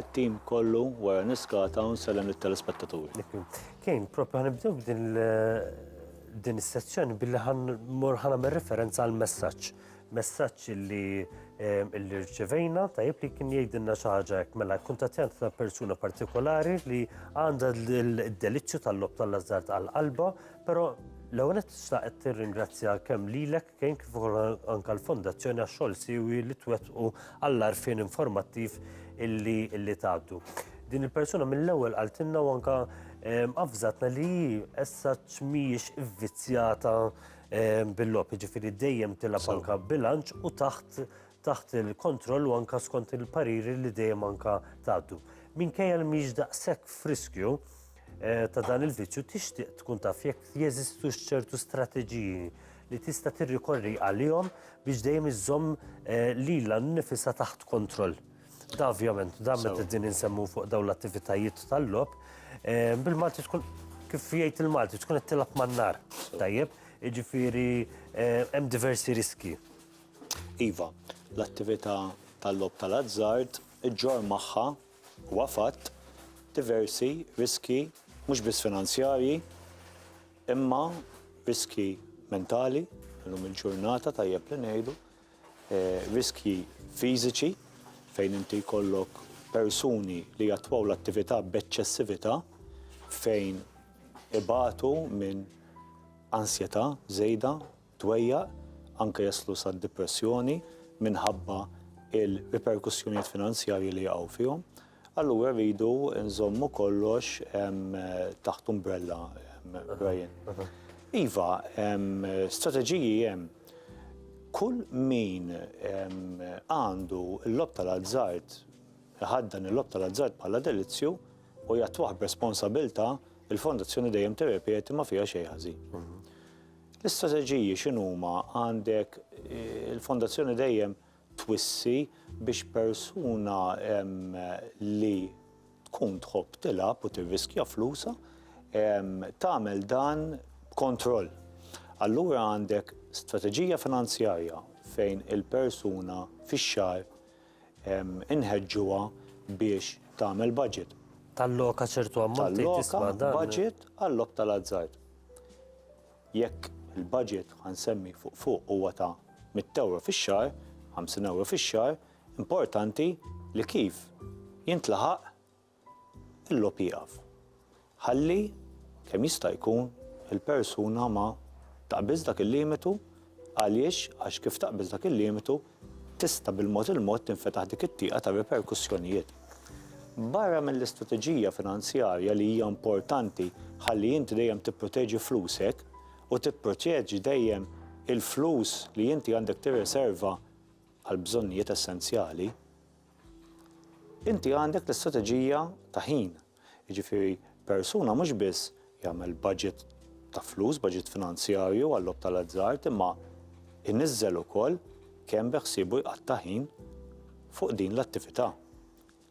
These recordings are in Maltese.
It-tim kollu wara niskata u nsellem lit-telespettaturi. Kane, propju ħan nibdew b'din din is-sezzjoni billi ħan mor ħan għamel referenza għal messaġġ. Messaġġ li eh, li rċevejna tajjeb li kien jgħidilna xi ħaġa hekk mela kuntattjant ta' persuna partikolari li għandha d-deliċċju tal-lob tal-azzard għal qalba, però l-ewwel qed tirringrazzja kemm lilek kien kif ukoll anke l-Fondazzjoni għax-xogħol siwi li twettqu għall-għarfien informattiv illi illi tgħaddu. Din il-persuna mill-ewwel qaltilna u anke ehm, avżatna li hi issa mhijiex ivvizzjata ehm, bil-lop, jiġifieri dejjem tilab anke bilanċ u taħt taħt il-kontroll u anke skont il-pariri li dejjem anke tgħaddu. Minkejja li mhijiex daqshekk friskju, Eh, ta' dan il-vizzju tixtieq tkun taf jekk jeżistu ċertu strateġiji li tista' tirrikorri għalihom biex dejjem iżżomm eh, lilha nnifisha taħt kontroll. Da ovvjament, da meta din insemmu fuq dawn l-attivitajiet tal-lob, eh, bil-Malti tkun kif jgħid il-Malti tkun qed tilab man-nar. Tajjeb, jiġifieri hemm diversi riski. Iva, l-attività tal-lob tal-azzard iġġor magħha Huwa fatt, diversi riskji mhux biss finanzjarji imma riskji mentali llum il-ġurnata tajjeb li ngħidu, riskji fiżiċi fejn inti jkollok persuni li jattwaw l-attività b'eċċessività fejn ibatu minn ansjetà żejda, tweġġgħa, anke jaslu sad-dipressjoni minħabba l-riperkussjonijiet finanzjarji li jaqgħu fihom, allura rridu nżommu kollox taħt umbrella, Brian. Iva, strateġiji hemm. Kull min għandu l-logħob tal-azzard, iħaddan il-logħob tal-azzard bħala delizzju u jattwah b'responsabilità, il-Fondazzjoni dejjem tirrepeti ma fiha xejn ħażin. L-istrateġiji x'inhuma għandek il-fondazzjoni dejjem twissi biex persuna li tkun tħobb tilgħab u tirriskja flusha tagħmel dan b'kontroll. Allura għandek strateġija finanzjarja fejn il-persuna fix-xahar Inħeġġuha biex tagħmel budget. Talloka ċertu ammont tgħid isma' dan. Talloka budget għal-logħob tal-azzard. Jekk il-budget, ħa nsemmi fuq fuq, huwa ta' mitt ewro fix-xahar, ħamsin ewro fix-xahar, importanti li kif jintlaħaq Il-logħob jieqaf. Ħalli, kemm jista' jkun, il-persuna ma taqbiż dak il-limitu, għaliex, għax kif taqbiż dak il-limitu, tista' bil-mod il-mod tinfetaħ dik it-tieqa ta' riperkussjonijiet. Barra mill-istrateġija finanzjarja li hija importanti ħalli inti dejjem tipproteġi flusek u tipproteġi dejjem il-flus li inti għandek tirriserva għall-bżonnijiet essenzjali, Inti għandek l-istrateġija ta' ħin, jiġifieri persuna mhux biss jagħmel budget ta' flus, budget finanzjarju għal-logħob tal-azzard imma jniżżel ukoll kemm beħsiebu jqatta' ħin fuq din l-attività.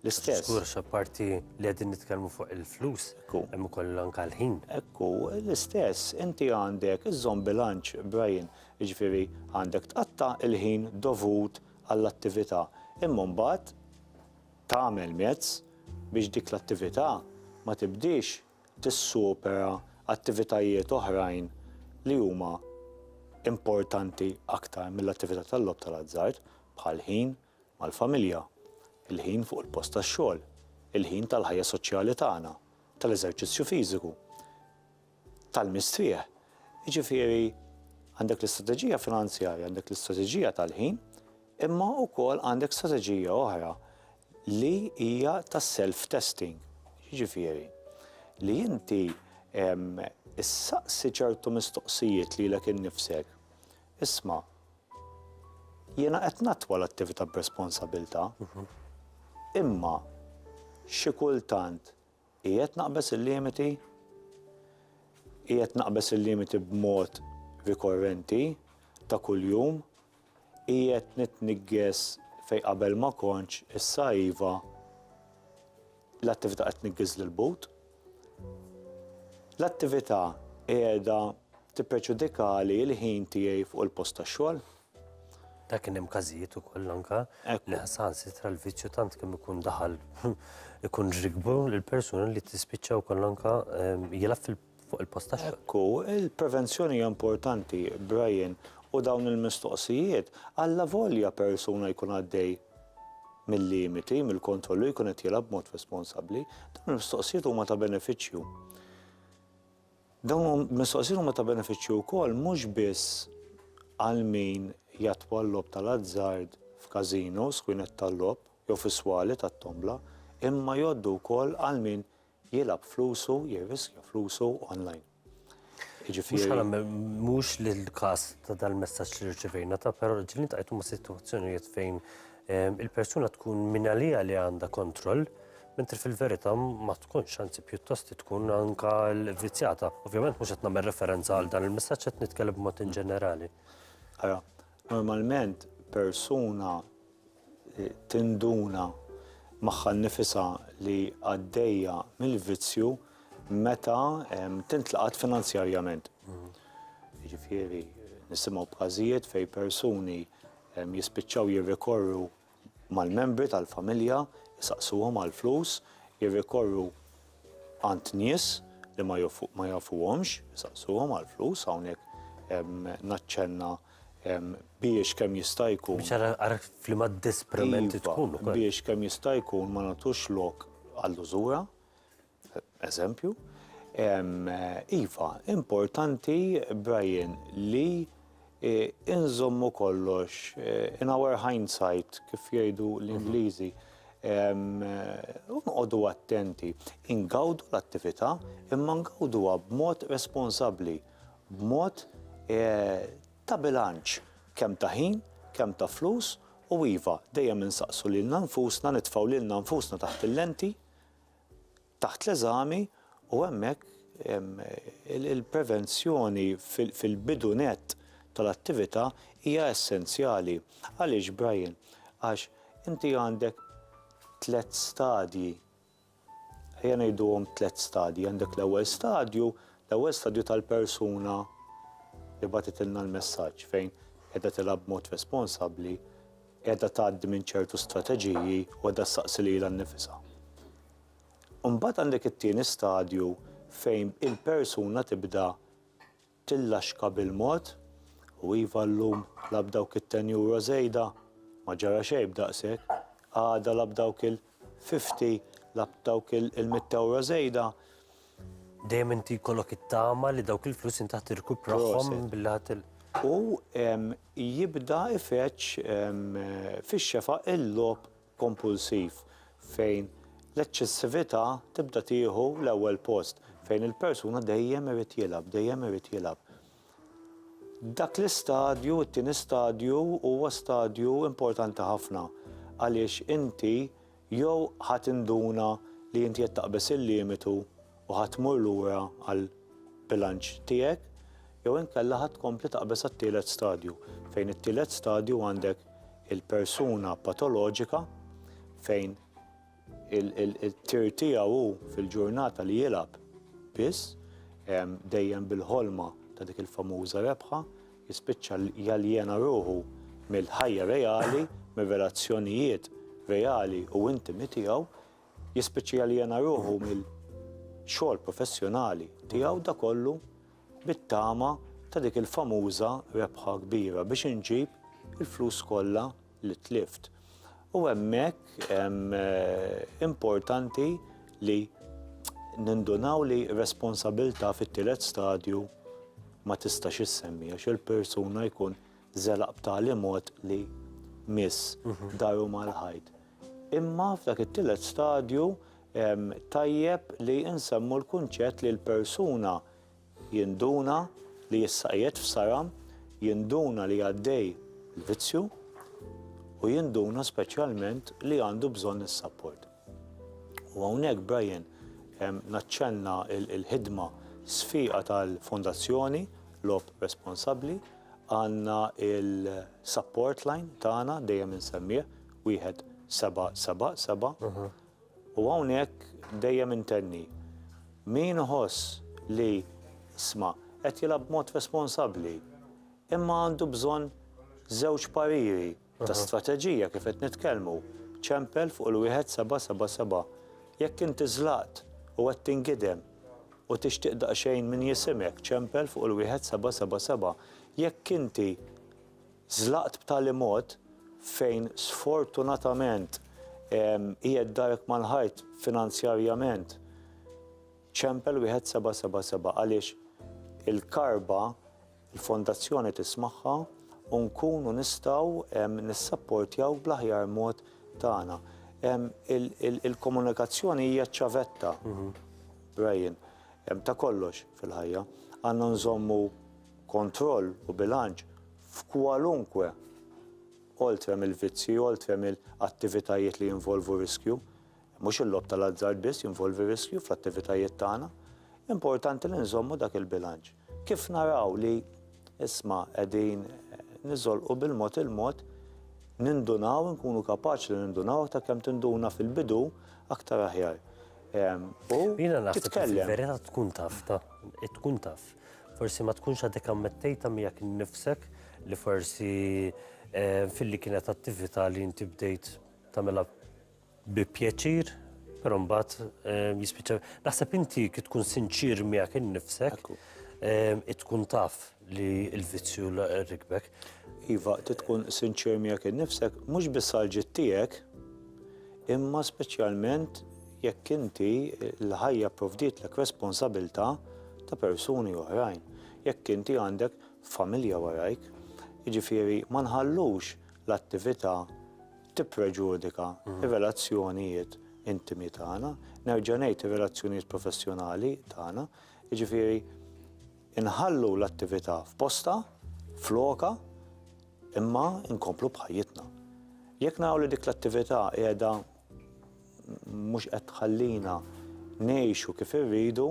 L-istess. Żgur x'apparti li qegħdin nitkellmu fuq il-flus, hemm ukoll anke l-ħin. Ekku, l-istess, inti għandek iżżomm bilanċ, Brian, jiġifieri għandek tqatta' l-ħin dovut għall-attività imma mbagħad tagħmel mezz biex dik l-attività ma tibdiex tissupera attivitajiet oħrajn li huma importanti aktar mill-attività tal-logħob tal-azzard, bħall-ħin mal-familja, il-ħin fuq il-post tax-xogħol, il-ħin tal-ħajja soċjali tagħna, tal-eżerċizzju fiżiku. tal-mistrieħ. Jiġifieri għandek l-istrateġija finanzjarja, għandek l-istrateġija tal-ħin, imma wkoll għandek strateġija oħra li hija ta' self-testing. Jiġifieri li inti issaqsi ċertu mistoqsijiet lilek innifsek, isma' jiena qed nattwa l-attività b'responsabilità, imma xi kultant, Qiegħed naqbeż il-limiti? Qiegħed naqbeż il-limiti b'mod rikorrenti ta' kuljum? Qiegħed nitniggeż fejn qabel ma kontx issa iva l-attività qed tniggeż lil but? L-attività qiegħda tippreġudikali l-ħin tiegħi fuq il-post tax-xogħol? Ta' kien hemm każijiet ukoll anka li saħansitra l-vizzju tant kemm ikun daħal ikun rikbu l-persuna li tispiċċa wkoll anka ehm, jilgħab fil fuq il-post ta' xogħol. Ekku, il-prevenzjoni hija importanti, Brian, u dawn il-mistoqsijiet għalla volja persuna jkun għaddej mill-limiti, mill-kontrollu jkun qed jilgħab mod responsabbli, dawn il-mistoqsijiet huma ta' benefiċċju. Dawn il-mistoqsijiet huma ta' benefiċċju wkoll mhux biss għal min jattwa l-logħob tal-azzard f'każinos, kwinet tal-logħob jew fi swali tat-tombla, imma jgħoddu wkoll għal min jilgħab flusu, jirriskja flusu onlajn. Jiġifieri. Mhux l-każ ta' dal-messaġġ li rċevejna, ta' però ġieli ntqajtu ma' sitwazzjonijiet fejn il-persuna tkun mingħaliha li għandha kontroll, Mentri fil-verità ma tkunx, anzi pjuttost tkun anka l-vvizzjata. Ovvjament mhux qed nagħmel referenza għal dan il-messaġġ qed nitkellem b'mod inġenerali. Ara, normalment persuna tinduna magħha nnifisha li għaddejja mill-vizzju meta tintlaqat finanzjarjament. Jiġifieri nisimgħu b'każijiet fejn persuni jispiċċaw jirrikorru mal-membri tal-familja, isaqsuhom għall-flus, jirrikorru għand nies li ma jafuhomx, isaqsuhom għall-flus, hawnhekk naċċenna biex kemm jista' jkun. Biex ara f'liema disprament tkun. Biex kemm jista' jkun ma nagħtux lok għall-użura, Eżempju, Iva, importanti, Brian, li inżommu kollox in our hindsight, kif jgħidu l-Ingliżi, u noqogħdu attenti, ingawdu l-attività imma ngawduha b'mod responsabbli, b'mod ta' bilanċ kemm ta' ħin, kemm ta' flus u iva, dejjem insaqsu lilna nfusna, nitfgħu lilna nfusna taħt il-lenti, taħt l-eżami u hemmhekk il-prevenzjoni fil-bidu nett tal-attività hija essenzjali. Għaliex, Brian? Għax inti għandek tliet stadji, ejja ngħiduhom tliet stadji, għandek l-ewwel stadju, l-ewwel stadju tal-persuna li bagħtitilna l-messaġġ fejn qiegħda tilgħab b'mod responsabbli qiegħda tgħaddi minn ċertu strateġiji u qiegħda ssaqsi lilha nnifisha. Imbagħad għandek it-tieni stadju fejn il-persuna tibda tillaxka bil-mod u iva llum la b'dawk it-ten euro żejda ma ġara xejn b'daqshekk, għada la b'dawk il- fifty lab dawk il-mitt ewro żejda. Dejjem inti jkollok it-tama li dawk il-flus inti ħa tirkuprahom billi ħa til. U jibda ifeġġ fix-xefaq il-logħob kompulsiv fejn l-eċċessività tibda tieħu l-ewwel post, fejn il-persuna dejjem irid jilgħab, dejjem irid jilgħab. Dak l-istadju, it-tieni stadju, huwa stadju importanti ħafna għaliex inti jew ħa tinduna li inti qed taqbeż il-limitu u ħa tmur lura għall-bilanċ tiegħek jew inkella ħa tkompli taqbeż għat-tielet stadju fejn it-tielet stadju għandek il-persuna patoloġika fejn Il-tir tiegħu hu fil-ġurnata li jilgħab biss, dejjem bil-ħolma ta' dik il-famuża rebħa, jispiċċa jaljena ruħu mill-ħajja reali, mir-relazzjonijiet reali u intimi tiegħu, jispiċċa jaljena ruħu mill-xogħol professjonali tiegħu, da kollu bit-tama ta' dik il-famuża rebħa kbira biex inġib il-flus kollha. li tlift. U hemmhekk importanti li nindunaw li responsabilità fit-tielet stadju ma tistax issemmi għax il-persuna jkun żelaq b'tali mod li miss mhm. daru mal-ħajt. Imma f'dak it-tielet stadju tajjeb li insemmu l-kunċett li l-persuna Jinduna li issa qiegħed f'saram, jinduna li għaddej l-vizzju u jinduna speċjalment li għandu bżonn is-sapport. U hawnhekk Brian naċċenna l-ħidma sfieqa tal-Fondazzjoni Logħob Responsabbli, għandna il-support line tagħna dejjem insemmieh, wieħed seba' seba' seba', U hawnhekk dejjem intenni, min iħoss li, isma', qed jilgħab b'mod responsabbli, imma għandu bżonn żewġ pariri ta' strateġija kif qed nitkellmu, ċempel fuq il-wieħed seba' seba' seba'. Jekk inti żlaqt u qed tingidem u tixtieq daqsxejn min jisimek, ċempel fuq il-wieħed seba' seba' seba'. Jekk inti Żlaqt b'tali mod fejn sfortunatament qiegħed darek mal-ħajt finanzjarjament. Ċempel wieħed seba' seba' seba' għaliex il-karba l-fondazzjoni tismagħha u nkunu nistgħu nissapportjaw bl-aħjar mod tagħna. Il-komunikazzjoni hija ċ-ċavetta, Brian, ta' kollox fil-ħajja. Għandna nżommu kontroll u bilanċ f'kwalunkwe oltre mill-vizzji, oltre mill-attivitajiet li jinvolvu riskju. Mhux il-logħob tal-azzard biss jinvolvi riskju fl-attivitajiet tagħna. Importanti li nżommu dak il-bilanċ. Kif naraw li isma' qegħdin niżolqu bil-mod il-mod nindunaw, nkunu kapaċi li nindunaw aktar kemm tinduna fil-bidu aktar aħjar. U titkellem. Vera tkun taf, tkun taf. Forsi ma tkunx għadek ammettejta miegħek innifsek li forsi eh, filli kienet attività li inti bdejt tagħmilha bi pjaċir, però mbagħad eh, jispiċċa. Naħseb inti kif tkun sinċir miegħek innifsek, eh, tkun taf li l-vizzju rikbek. Iva, tkun sinċir miegħek innifsek, mhux biss għal ġid tiegħek, Imma speċjalment jekk inti, l-ħajja pprovdietlek responsabilità ta' persuni oħrajn, jekk inti għandek familja warajk. Jiġifieri ma nħallux l-attività tippreġudika r-relazzjonijiet intimi tagħna, nerġa' ngħid ir-relazzjonijiet professjonali tagħna. Jiġifieri. Inħallu l-attività f'postha, f'lokha, imma nkomplu b'ħajjitna. Jekk naraw li dik l-attività qiegħda mhux qed tħallina ngħixu kif irridu,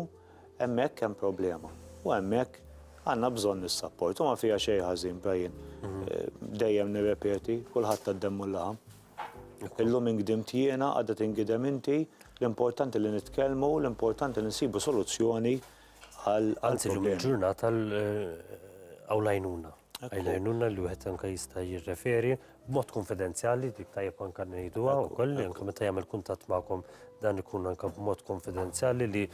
hemmhekk hemm problema. U hemmhekk għandna bżonn is-sapport. U ma fiha xejn ħażin, Brian. Dejjem nirrepeti, kulħadd għad-demm u l-laħam. Illum ingdimt jiena, għada tingidem inti, l-importanti li nitkellmu, l-importanti li nsibu soluzzjoni għal. Anzi, l-lum il-ġurnata għaw lajnuna. Għaw lajnuna li wieħed anka jista' jirreferi b'mod konfidenzjali dik tajjeb anka ngħidu għaw kolli anka meta jagħmel kuntatt magħkom dan ikun anka b'mod konfidenzjali li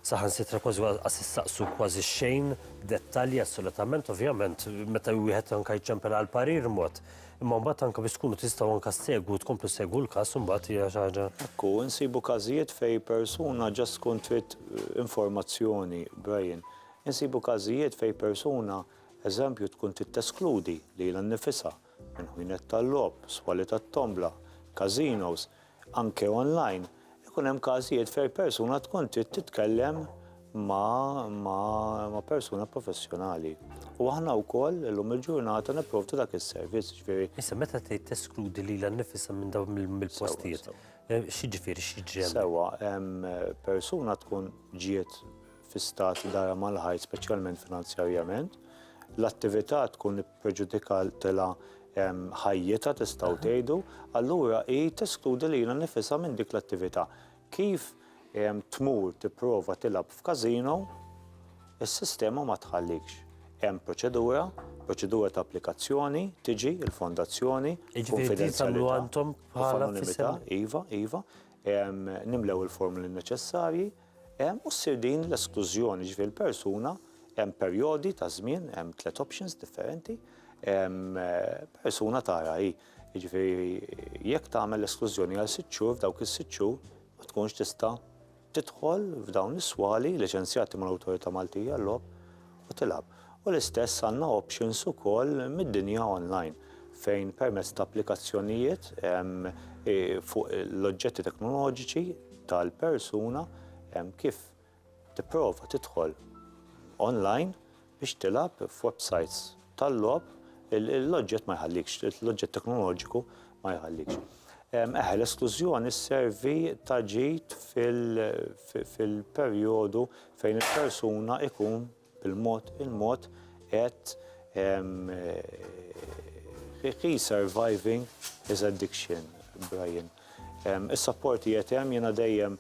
saħan sitra kważi għas saqsu kważi xejn dettalji assolutament ovvjament meta wieħed anka jċempel għal parir mod Imma mbagħad anke biex tkunu tistgħu anke ssegwu tkomplu ssegwu l-każ imbagħad hija xi ħaġa. Hekk hu, insibu każijiet fejn persuna ġast tkun trid informazzjoni, Brian. Insibu każijiet fejn persuna, eżempju, tkun trid teskludi lilha nnifisha minn ħwienet tal-logħob, swali tat-tombla, każinos, Anke online, ikun hemm każijiet fejn persuna tkun trid titkellem ma' ma' persuna professjonali. U aħna wkoll illum il-ġurnata nipprovdu dak is-servizz, jiġifieri. Issa meta tgħid teskludi lilha nnifisha minn dawn mill-postijiet, x'jiġifieri, x'jiġri hemmhekk? Sewwa, hemm persuna tkun ġiet fi stat darha mal-ħajt speċjalment finanzjarjament, l-attività tkun. preġudikat tilha ħajjitha tistgħu tgħidu, allura hi teskludi lilha nnifisha minn dik l-attività. Kif tmur tipprova tilgħab f'każino, is-sistema ma tħallikx. Hemm proċedura, proċedura ta' applikazzjoni, tiġi l-fondazzjoni, kunfidenzjalità u anonimità, iva, iva, nimlew il-formoli neċessarji, u ssir din l-esklużjoni, jiġifieri l-persuna hemm perjodi ta' żmien, hemm tliet options differenti, persuna tara hi, jiġifieri jekk tagħmel l-esklużjoni għal sitt xhur f'dawk is-sitt xhur ma tkunx tista' tidħol f'dawn is-swali liċenzjati mal-Awtorità Maltija għal-Logħob u tilgħab. U l-istess għandna options ukoll mid-dinja online fejn permezz ta' applikazzjonijiet fuq l-oġġetti teknoloġiċi tal-persuna kif tipprova tidħol online biex tilgħab f'websites tal-logħob l-oġġett ma jħallikx, l-oġġett teknoloġiku ma jħallikx. Eħe, l-esklużjoni sservi ta' ġid fil-perjodu fejn il-persuna ikun bil-mod il-mod qed he is surviving his addiction, Brian. Is-support li qed hemm jiena dejjem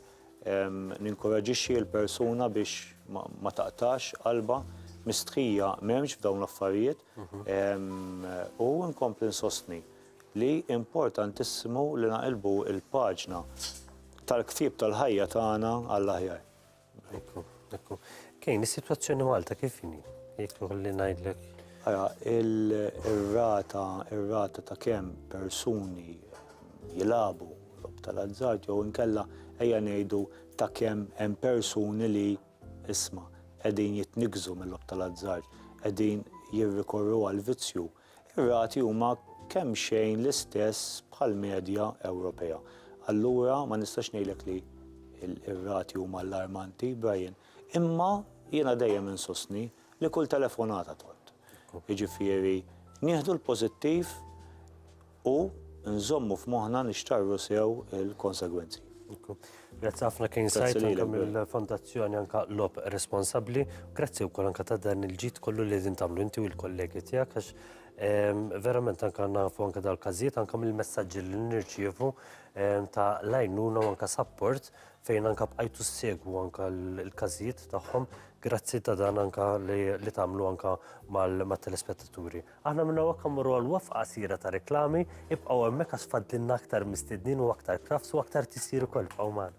ninkoraġixxi l-persuna biex ma taqtax qalbha, mistħija m'hemmx f'dawn l-affarijiet u nkompli nsostni li importantissimu li naqilbu l-paġna tal-ktieb tal-ħajja tagħna għall-aħjar. Ekku, ekku. Kejn, is-sitwazzjoni Malta kif inhi? Jekk ikolli ngħidlek. Ara, ir-rata, ir-rata ta' kemm persuni jilabu lob tal-azzard jew inkella ejja ngħidu ta' kemm hemm persuni li isma' qegħdin jitnikkżu mill-lob tal-azzard, qegħdin jirrikorru għal vizzju Ir-rati huma kemxejn l-istess bħall-medja Ewropea. Allura ma nistax ngħidlek li r-rati huma allarmanti, Brian, imma jiena dejjem insostni li kull telefonata tgħodd. Jiġifieri nieħdu l-pożittiv U nżommu f'moħħna nixtarru sew il-konsegwenzi. Grazzi ħafna King Sajt anke mill-Fondazzjoni anke Lob Responsabbli. Grazzi wkoll anke ta' dan il-ġid kollu li din tagħmlu inti u l-kollegi tiegħek għax ehm, verament anke nafu anke dal-każijiet anke mill-messaġġi li nirċievu ehm, ta' lajnuna u anke sapport fejn anke bqajtu segwu anke l-każijiet tagħhom grazzi ta' dan anke li tagħmlu anke mal-telespettaturi. Aħna minn hawn hekk għammur għal waqfa qasira ta' reklami, ibqgħu hemmhekk għax fadlilna aktar mistednin u aktar krafts u aktar tisjir ukoll ibqgħu magħna.